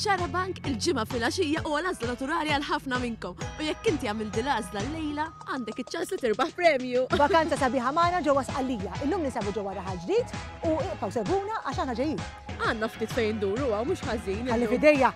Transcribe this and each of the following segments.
Xarabank il-ġimgħa fil-għaxija u għal-għażla naturali għal ħafna minnkom. U jekk inti għamil dil-għażla l-lejla, għandek iċ-ċans li tirbaħ premju. Vakanza sabiħa magħna ġewwa Sqallija. Illum nisabu ġewwa raħal ġdid u iqgħu seguna għax aħna ġejjin. Għandna ftit fejn duru għaw mhux ħażin. Għalli fidejja.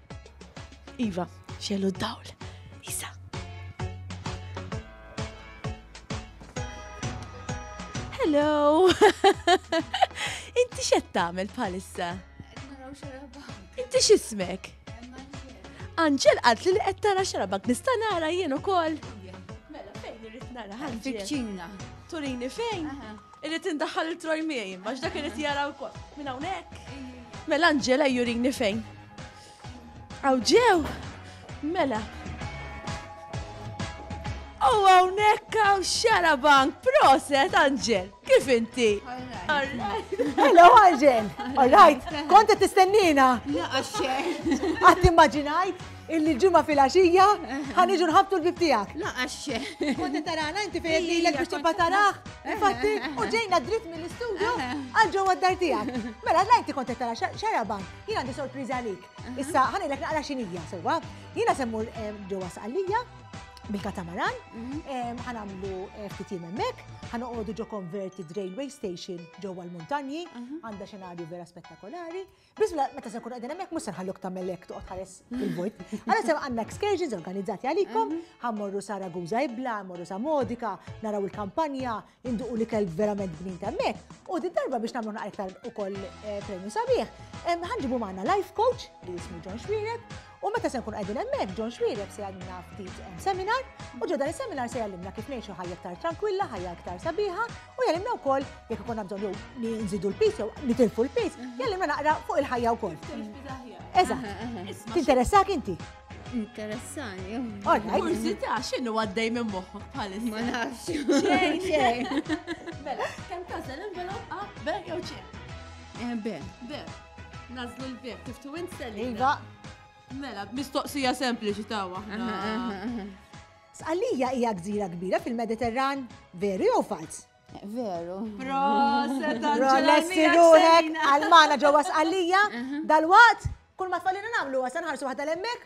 Iva, xellu d-dawl. Isa. Hello! Inti xed tagħmel bħalissa? Inti x'ismek? Anġel għad li qed tara xarabak nista' nara jien ukoll. Mela fejn irid nara ħanġi. Fiċċina. Turini fejn? Irrid indaħħal il-troj miegħi, imma x'dak irrid jara wkoll. Minn hawnhekk. Mela Angela jurini fejn. Aw ġew. Mela. U hawnhekk hawn xara bank proset Angel. Kif inti? Hello Angel. All right. Kont qed tistennina. Laqax xejn. Qatt immaġinajt. Illi l-ġimgħa filgħaxija ħa niġu nħabtu l-bib tiegħek. Laqax. Konti tarana inti fejn lilek biex tibqa' taraħ. Infatti, u ġejna dritt mill-istudju għal ġewwa d-dar tiegħek. Mela la inti konti tara xaraban, jien għandi sorpriża għalik. Issa ħanilek naqra xinija sewwa. Jiena semmur ġewwa sqallija bil-katamaran, mhm. ħanamlu eh, ftit jiem hemmhekk, ħanoqogħdu ġo konverti railway station ġewwa l-muntanji, mhm. għandha xenarju vera spettakolari. Bismillah, meta se nkunu qegħdin hemmhekk mhux se nħalluk tagħmel hekk toqgħod tħares il-vojt. Għala se għandna excursions organizzati għalikom, mhm. ħammorru sa Ragusa Ibla, ħammorru sa Modika, naraw il-kampanja, induqu li kelb verament bnin hemmhekk. U din darba biex nagħmlu naqra iktar ukoll eh, premju sabiħ, ħanġibu magħna life coach li jismu John Xmiret, U meta se nkun qegħdin hemmhekk, John Xwireb se jgħallimna ftit eh, seminar, u ġo dan is-seminar se jgħallimna kif ngħixu ħajja aktar tranquilla, ħajja aktar sabiħa, u jgħallimna wkoll jekk ikun bżonn jew li nżidu l-pis jew nitilfu l-pis, mhm. jgħallimna naqra fuq il-ħajja wkoll. Eżatt. Tinteressak inti? Interessani. Orna, kurzita, xinu għaddej minn moħħok bħalissa? Ma nafx. Xejn, xejn. Mela, kemm tażel envelop A, B jew C? Eh, B. B. Nazlu l-bib, kif tu int selli. Iva. Mela, mistoqsija sempliċi ta' waħda. Sqallija hija gżira kbira fil-Mediterran, veru jew falz? Veru. Proset, Lessi ruħek, għalmana ġewwa sqallija, dal-waqt, kull ma tfallina nagħmlu għasan ħarsu waħda l-emmek,